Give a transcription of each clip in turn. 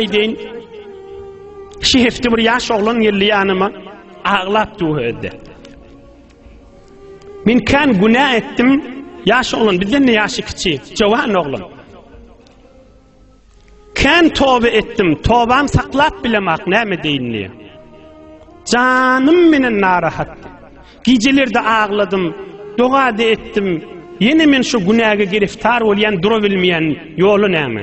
aýdaýyn. Şu hepde bir ýaş oglan geldi ýanyma, aglap duha etdi. Men kan günä etdim, ýaş oglan bizden de ýaşy kiçi, jowan oglan. Kan toba etdim, tobam saklap bilemak näme deýin diýip. Janym menen narahat. Gijelerde agladım, doga da etdim. Ýene men şu günäge giriftar bolýan, dura bilmeýän ýoly näme?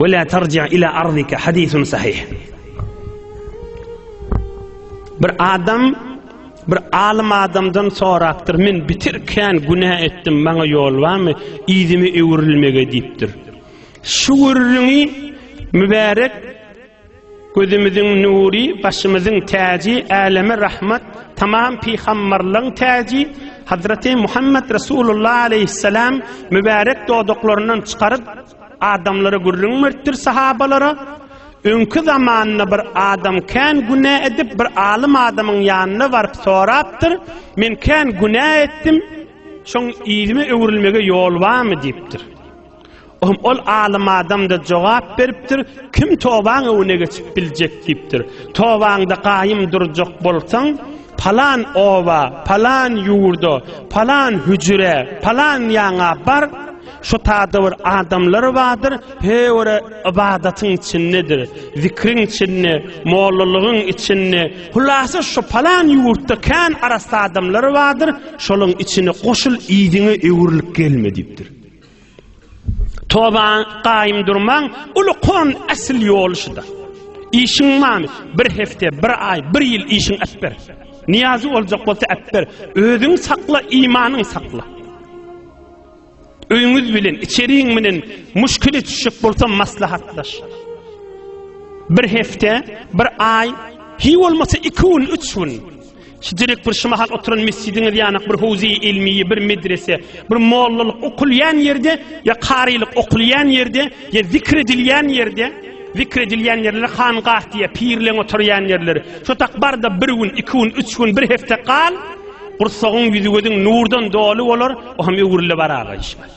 Ve la terci ila arzika hadisun sahih. Bir adam bir alim adamdan sorapdyr. Men bitirken günä etdim. Maňa ýol barmy? Ýüzümi öwrülmege diýipdir. Şu gürrüňi mübärek gözümiziň nury, başymyzyň täji, äleme rahmat, tamam pygamberleň täji Hazreti Muhammed Resulullah aleyhisselam mübärek dodaklaryndan çykaryp Adamlara gürrüň beripdir sahabalara, Öňki zamanda bir adam kän günä edip, bir alym adamyň ýanyna baryp sorapdyr, Men kän günä etdim, şoň ilime öwrülmege ýol barmy diýipdir. Ohm ol alym adamda jogap beripdir, kim tobaň öwüne geçip biljek diýipdir. Tobaňda gaýym durjak bolsaň, Palan oba, palan ýurda, palan hüjre, palan ýaňa bar, şo taýda bir adamlar bardyr, höwere ybadatyň içindedir, zikriň içinde, mollalygyň içinde, hulasa şo palan ýurtda kän arassa adamlar bardyr, şolaryň içine goşul yzyňa öwrülip gelme diýipdir. Toba gaýym durmaň, uly kon äsl ýoly şuda. Işiň many, bir hefte, bir aý, bir ýyl işiň äpber. Niýazy boljak bolsa äpber. Özüň sakla, imanyň sakla. Öýüňiz bilen, içeriň bilen muşkile düşjek bolsa maslahatlaş. Bir hefte, bir aý, hiý bolmasa iki gün, üç gün. Şijirik bir şu mahal oturan mesjidiňiz ýanak bir howzy ilmiyi, bir medrese, bir mollalyk okulýan ýerde ýa karylyk okulýan ýerde ýa zikr edilýän ýerde, zikr edilýän ýerlere hangah diýýär, pirleň oturýan ýerleri. Şu tak barda bir gün, iki gün, üç gün, bir hepde gal, gursagyň ýüzi gözüň nurdan doly bolar, o hem öwrüle barar, gaýyşmaz.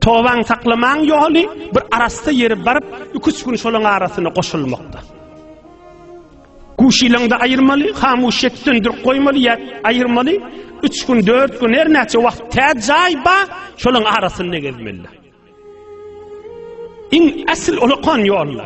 Tobaň saklamaň ýoly bir arassa ýeri baryp, iki-üç gün şolaň arasyna goşulmakda. Guşylaňda aýyrmaly, hamuşyýet söndürip goýmaly ýa aýyrmaly, üç gün, dört gün, her näçe wagt tä jaý ba, şolaň arasynda gezmeli. Iň asl olakan ýolla.